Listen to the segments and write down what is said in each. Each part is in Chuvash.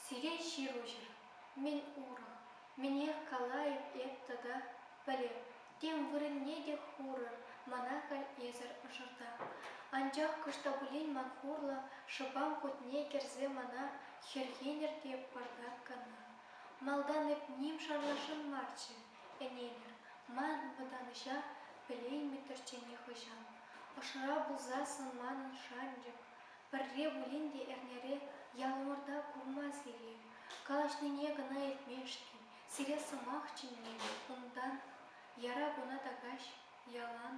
Сире ҫыруҫӑр, мӗн урӑх, мӗнех калайӑп эп тата, пӗлеп, тем вырӑнне те хурӑр мана халь эсӗр ӑшӑрта. Анчах кӑшт та пулин ман хурлӑ шӑпам кутне кӗрсе мана хӗрхенӗр те пӑртак кана. Малтан эп ним шанлашан марччӗ, Ӗненӗр, манӑн вӑтанӑҫа пӗлеймӗттӗрччӗ нихӑҫан. Ӑшра пулса сан манӑн шанчӑк. Пӗрре пулин те эрнере ялӑмӑрта курма-сире, калаҫнине кӑна илтмешкӗн, сире сӑмах чӗнмен унтан, яра куна такаҫ ялан,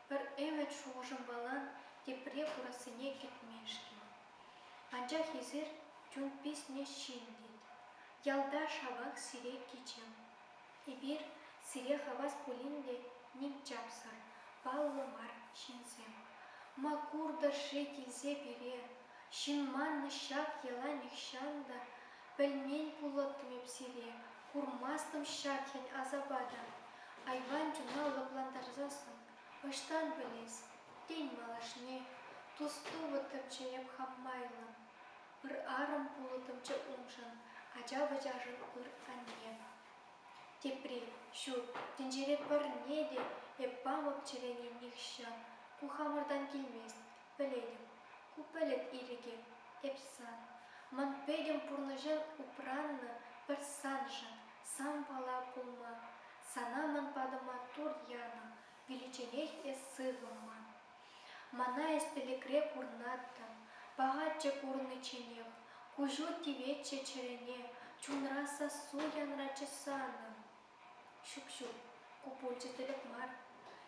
пӗр ӗмӗт-шухӑшӑмпалан тепре курассине кӗтмешкӗн. Анчах эсир чун писнеҫҫин тет. Ялта шавах сире кичем. Эпир сире хавас пулин те ним чапсӑр, паллӑ мар ҫынсем. Ма куртӑр-ши килсе пире? Ҫын маннӑ ҫак йӑла нихҫан та пӗлмен пулӑттӑм эп сире, курмастӑм ҫак хӗн-асапа та. Айван чуна лӑплантарсассӑн Ӑҫтан пӗлес, тен, малашне тус-тупӑ тӑмча эп хам майлӑ. Ыр арӑм пулӑтӑмччӗ уншӑн ача-пӑчашӑн ыр анне. Тепри, ҫук, тӗнчере пӗрне те эп памӑп чӗрене нихҫан. Ку хамӑртан килмест, пӗлетӗп. Ку пӗлӗт ирӗкӗ, эп сан. Ман пӗтӗм пурнӑҫӑн упраннӑ пӗр саншӑн, сан пала пулма. Сана ман патӑма тур янӑ, виличченех эс сывлӑмӑн. Мана эс пӗлӗкре курнаттӑн, пахаччӗ курнӑчченех, куҫу тиветчӗ чӗрене, чунра сассу янратчӗ санӑн. Ҫук-ҫук, ку пулчӗ тӗлӗк мар.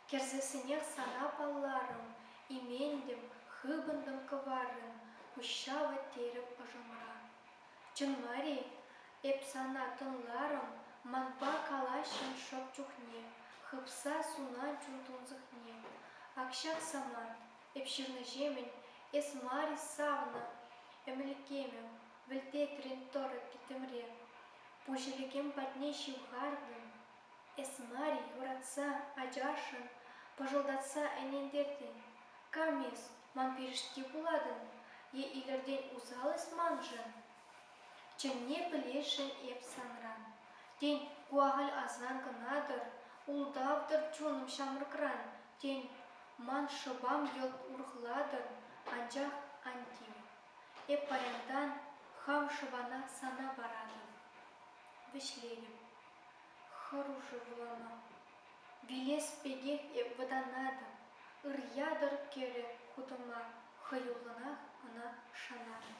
Кӗрсессӗнех сана палларӑм, иментӗм, хыпӑнтӑм кӑваррӑн, пуҫҫавӑ, терӗ ӑшӑмра. Чӑн мар-и? Эп сана тӑнларӑм, манпа калаҫҫӑн шӑп чухне, хыпса сунать чун тунсӑхне. Ак ҫак самант, эп ҫырнӑҫемӗн, эс мар-и савнӑ ӗмлетемӗм, вӗлтетрӗн тӑрӑ тӗтӗмре. Пуҫ ӗлӗкем патне ҫывхартӑм, Эс мар-и юратса ачашӑн пӑшӑлтатса ӗнентертӗн? Кам эс, ман пирӗшти пулатӑн е илӗртен усал эс маншӑн? Чӑнне пӗлесшӗн эп санран. Тен, ку ахаль асран кӑна-тӑр, ултав-тӑр чунӑм ҫамрӑкран. Тен, ман шӑпам йӑлт урӑхлатӑр, анчах ан тив. Эп паянтан хам шӑпана сана паратӑп. Вӗҫлетӗп. Хӑрушӑ вулама. Вилес пекех эп вӑтанатӑп, Ыр-ятӑр кӗрӗ кутӑма, Хӑюллӑнах ӑна шанатӑп.